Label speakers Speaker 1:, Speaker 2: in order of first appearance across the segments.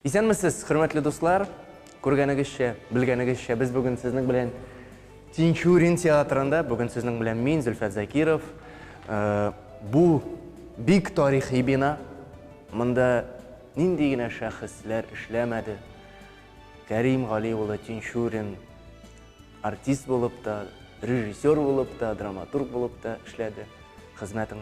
Speaker 1: Исәнмесез, хөрмәтле дуслар! Күргәнегезчә, белгәнегезчә, без бүген сезнең белән Тинчурин театрында, бүген сезнең белән мин, Зөлфәт Закиров. Э, бу бик тарихи бина. Монда нинди генә шәхесләр эшләмәде. Кәрим Гали улы Тинчурин артист булып та, режиссер булып та, драматург булып та эшләде. Хезмәтен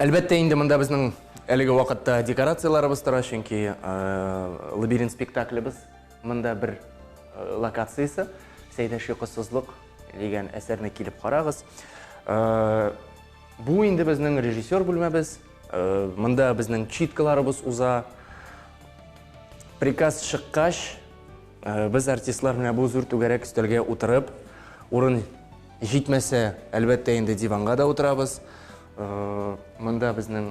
Speaker 1: Әлбәттә инде монда безнең әлеге вакытта декорацияларыбыз тора, чөнки лабиринт спектаклебез монда бер локациясе. Сәйдә шикысызлык дигән әсәрне килеп карагыз. Бу инде безнең режиссер бүлмәбез. Монда безнең читкаларыбыз уза. Приказ чыккач, без артистлар менә бу зур түгәрәк өстәлгә утырып, урын Җитмәсә, әлбәттә инде диванга да утырабыз. Монда безнең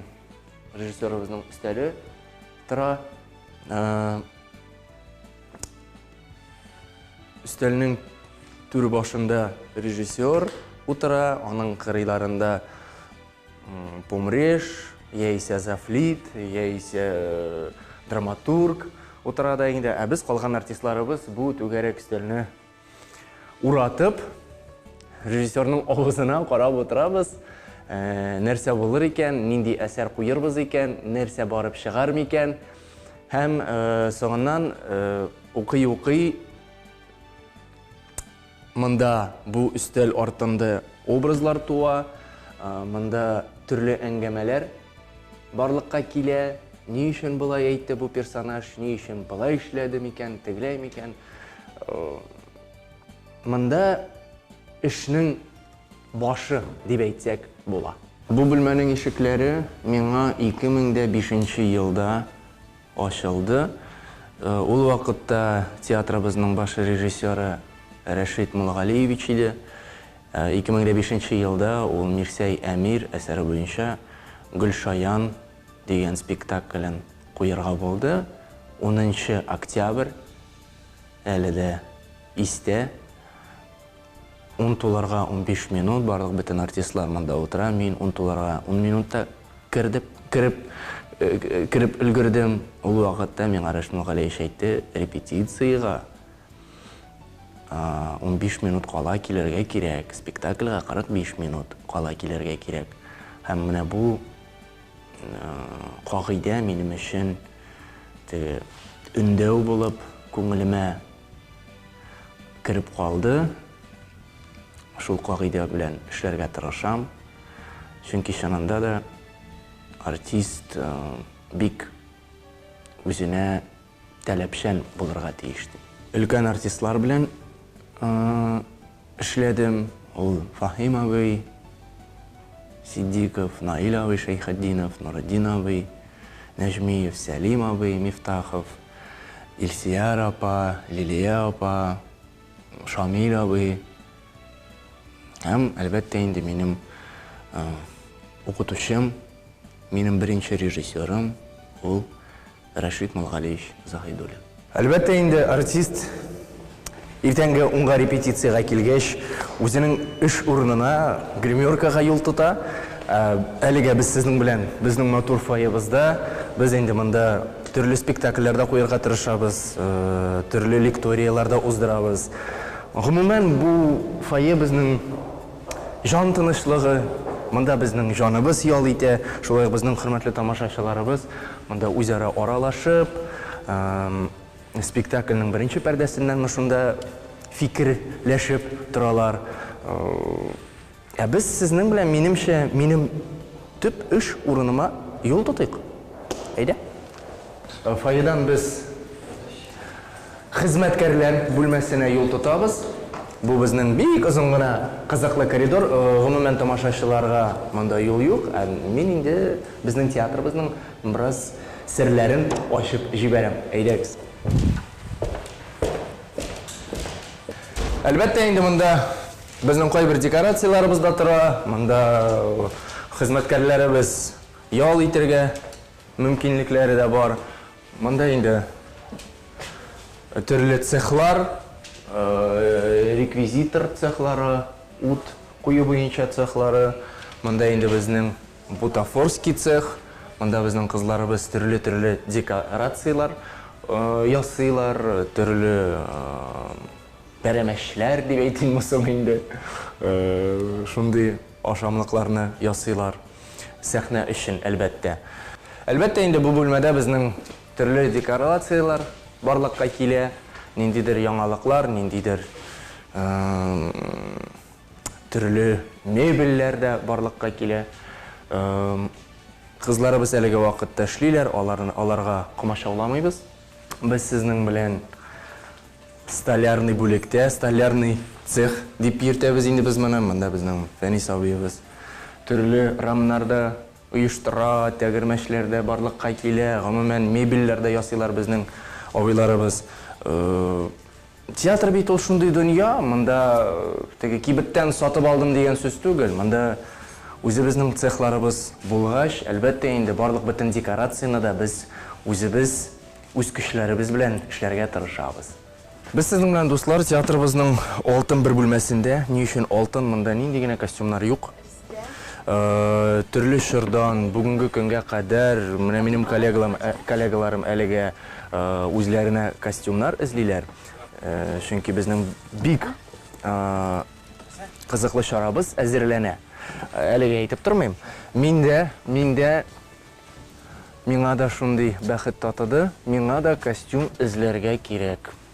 Speaker 1: режиссерыбызның өстәле тора. Өстәлнең түр башында режиссер утыра, аның кырыйларында помреш, яисә зафлит, яисә э, драматург утыра да инде, ә без калган артистларыбыз бу түгәрәк өстәлне Уратып, режиссерның авызына карап утырабыз. Ә, нәрсә булыр икән, нинди әсәр куербыз икән, нәрсә барып чыгар микән? Һәм ә, соңыннан укый-укый ә, монда бу өстәл артында образлар туа, ә, монда төрле әңгәмәләр Барлыкка килә, ни өчен болай әйтте бу персонаж, ни өчен болай эшләде микән, тегеләй микән. Монда эшнең башы дип әйтсәк була. Бу бүлмәнең ишекләре миңа 2005 елда Ачылды. Ул вакытта театрыбызның баш режиссеры Рәшит Муллагалиевич иде. 2005 нче елда ул Мирсәй Әмир әсәре буенча Гөлшаян дигән спектаклен куерга булды. Унынчы октябрь әле дә истә. Ун туларга унбиш минут, барлык бөтен артистлар монда утыра, мин ун туларга ун минутта кердеп, кереп, кереп өлгердем. Ул вакытта миңа Рәшмүл Галиевич әйтте, репетициягә унбиш минут кала килергә кирәк, спектакльгә кырык биш минут кала килергә кирәк. Һәм менә бу кагыйдә минем өчен теге өндәү булып күңелемә кереп калды. Шул кагыйдә белән эшләргә тырышам. Чөнки чынында да артист э, бик үзенә таләпчән булырга тиеш. Өлкән артистлар белән э, эшләдем. Ул Фахим абый, Сиддиков, Наил абый Шәйхетдинов, Нуретдин абый, Нәҗмиев, Сәлим абый, Мифтахов, Илсияр апа, Лилия апа, Шамил абый һәм, әлбәттә инде, минем укытучым, минем беренче режиссерым, ул Рәшит Мулгалиевич Заһидуллин. Әлбәттә инде, артист Иртәнге унга репетициягә килгәч, үзенең эш урынына, гримеркага юл тота. Әлегә без сезнең белән безнең матур фойебызда. Без инде монда төрле спектакльләр дә куярга тырышабыз, төрле лекторияләр дә уздырабыз. Гомумән, бу фойе безнең җан тынычлыгы, монда безнең җаныбыз ял итә, шулай ук безнең хөрмәтле тамашачыларыбыз монда үзара аралашып, Спектакльнең беренче пәрдәсеннән мы шунда фикерләшеп торалар. Ә без сезнең белән, минемчә, минем төп эш урыныма юл тотыйк. Әйдә. Фойедан без хезмәткәрләр бүлмәсенә юл тотабыз. Бу безнең бик озын гына кызыклы коридор. Гомумән, тамашачыларга монда юл юк. Ә мин инде безнең театрыбызның Бераз серләрен ачып җибәрәм. Әйдәгез. Әлбәттә инде монда безнең кайбер декорацияләребез дә тора. Монда хезмәткәрләребез ял итергә мөмкинлекләре дә бар. Монда инде төрле цехлар, реквизитор цехлары, ут кую буенча цехлары. Монда инде безнең Бутафорский цех, монда безнең кызларыбыз төрле-төрле декорацияләр ясыйлар, төрле пәрәмәчләр дип әйтимме соң инде, шундый ашамлыкларны ясыйлар, сәхнә өчен, әлбәттә. Әлбәттә инде, бу бүлмәдә безнең төрле декорацияләр барлыкка килә, ниндидер яңалыклар, ниндидер. Төрле мебельләр дә барлыкка килә. Кызларыбыз әлеге вакытта эшлиләр, аларга комачауламыйбыз. Без сезнең белән столярный бүлектә, столярный цех дип йөртәбез инде без моны. Монда безнең Фәнис абыебыз төрле рамнар да оештыра, тәгәрмәчләр дә барлыкка килә. Гомумән, мебельләр дә ясыйлар безнең абыйларыбыз. Театр бит ул шундый дөнья, монда теге кибеттән сатып алдым дигән сүз түгел, монда үзебезнең цехларыбыз булгач, әлбәттә инде, барлык бөтен декорацияне дә без үзебез, үз көчләребез белән эшләргә тырышабыз. Без сезнең белән, дуслар, театрыбызның алтын бер бүлмәсендә, ни өчен алтын, монда нинди генә костюмнар юк. Төрле чордан бүгенге көнгә кадәр менә минем коллегаларым әлегә үзләренә костюмнар эзлиләр, чөнки безнең бик кызыклы чарабыз әзерләнә. Әлегә әйтеп тормыйм. Мин дә, мин дә, миңа да шундый бәхет татыды, миңа да костюм эзләргә кирәк.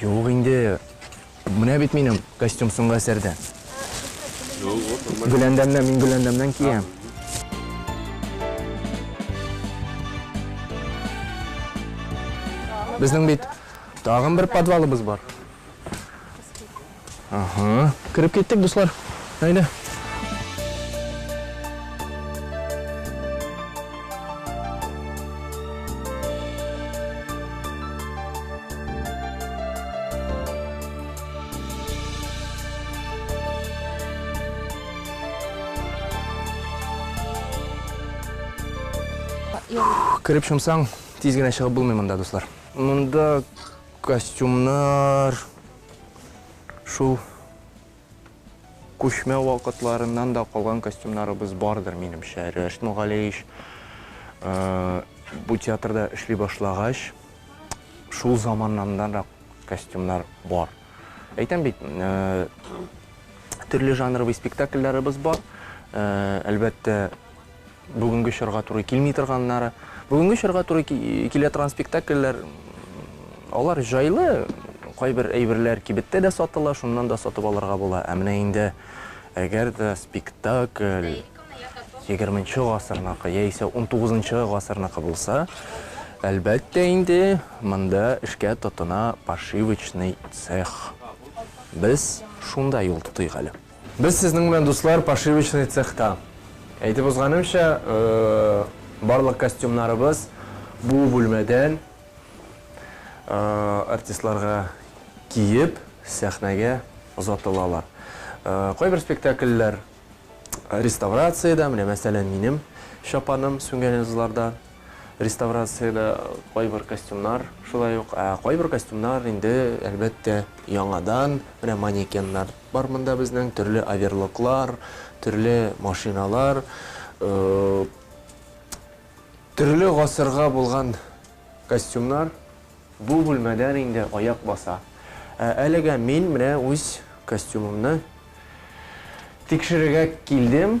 Speaker 1: Юк инде. Менә бит минем костюм соңгы әсәрдә. Гөләндәмнән, мин Гөләндәмнән киям. Безнең бит тагын бер подвалыбыз бар. Ага, кереп киттек, дуслар. Әйдә. Кереп шымсаң, тиз генә чыгып булмый монда, дуслар. Монда костюмнар, Шул күчмә вакытларыннан да калган костюмнарыбыз бардыр, минемчә. Рәш Мөгалеевич э, бу театрда эшли башлагач, шул заманнандан да костюмнар бар. Әйтәм бит, э, төрле жанровый спектакльләребез бар. Э, әлбәттә, Бүгенге чорга туры килми торганнары. Бүгенге чорга туры килә торган спектакльләр, алар җайлы, кайбер әйберләр кибеттә дә сатыла, шуннан да сатып алырга була. Ә менә инде әгәр дә спектакль 20 гасырныкы яисә 19 гасырныкы булса, әлбәттә инде монда эшкә тотына пошивочный цех. Без шунда юл тотыйк әле. Без сезнең белән, дуслар, пошивочный цехта. Әйтеп узганымча, барлык костюмнарыбыз бу бүлмәдән артистларга киеп, сәхнәгә озатылалар. Кайбер спектакльләр реставрациядә, менә мәсәлән, минем чапаным Сүнгәнезларда реставрациядә кайбер костюмнар шулай ук, ә кайбер костюмнар инде, әлбәттә, яңадан, менә манекеннар. Бар монда безнең төрле оверлоклар, төрле машиналар, төрле гасырга булган костюмнар бу бүлмәдән инде аяк баса. Ә әлегә мин менә үз костюмымны тикшерергә килдем.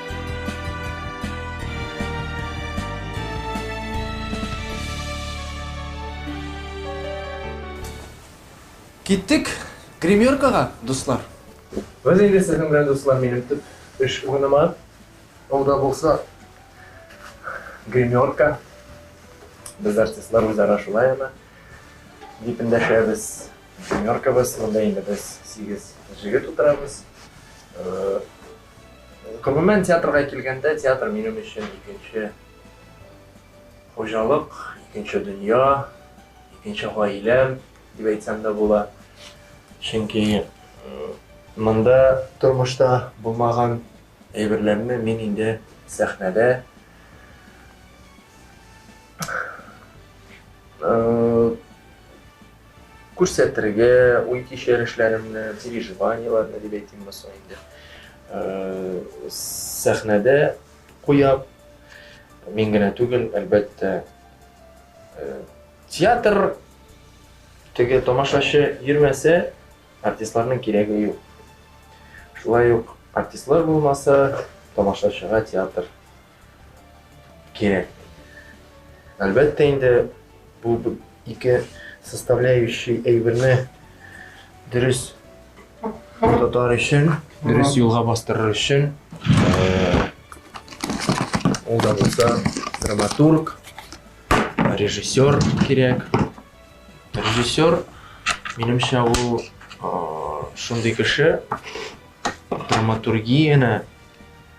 Speaker 1: Киттек гримеркага, дуслар! Без инде сезнең белән, дуслар, минем төп эш урыныма, ул да булса гримерка. Без, артистлар, үзара шулай аны дип эндәшәбез. Гримеркабыз, монда инде без сигез җегет утырабыз. Гомумән, театрга килгәндә, театр минем өчен икенче хуҗалык, икенче дөнья, икенче гаиләм дип әйтсәм дә була. Чөнки монда тормышта булмаган әйберләрне мин инде сәхнәдә Күрсәтергә, уй-кичерешләремне, переживаниеләрне дип әйтим булса инде, сәхнәдә куям. Мин генә түгел, әлбәттә, театр теге тамашачы йөрмәсә, артистларның кирәге юк. Шулай ук артистлар булмаса, тамашачыга театр кирәк. Әлбәттә инде бу ике составляющий әйберне дөрес тотар өчен, дөрес юлга бастырыр өчен ул да булса драматург, режиссер кирәк. Режиссер, минемчә, ул шундый кеше, драматургияне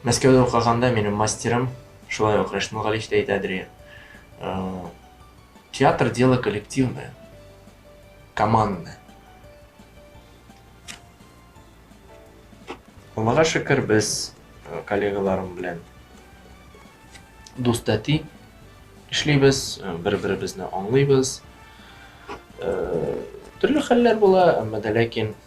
Speaker 1: Мәскәүдә укыганда минем мастерым, шулай ук Рәшмул Галиев тә әйтә Андрея. Э, театр дело коллективное, командное. Аллага шөкер, без э, коллегаларым белән дус тәти эшлибез, э, бер-беребезне аңлыйбыз. Төрле хәлләр була, әмма дә ләкин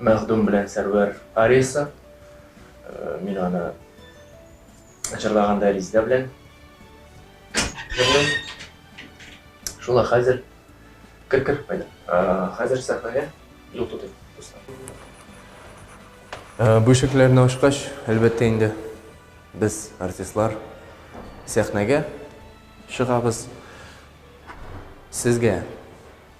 Speaker 1: Мәхдүм белән Сәрвәр ариясы. Мин аны җырлаганда Ризда белән җырлыйм. Шулай хәзер кер кер кайда. Хәзер сәхнәгә юл тотыйм. Бу ишекләрне ачкач, әлбәттә инде, без артистлар сәхнәгә чыгабыз. Сезгә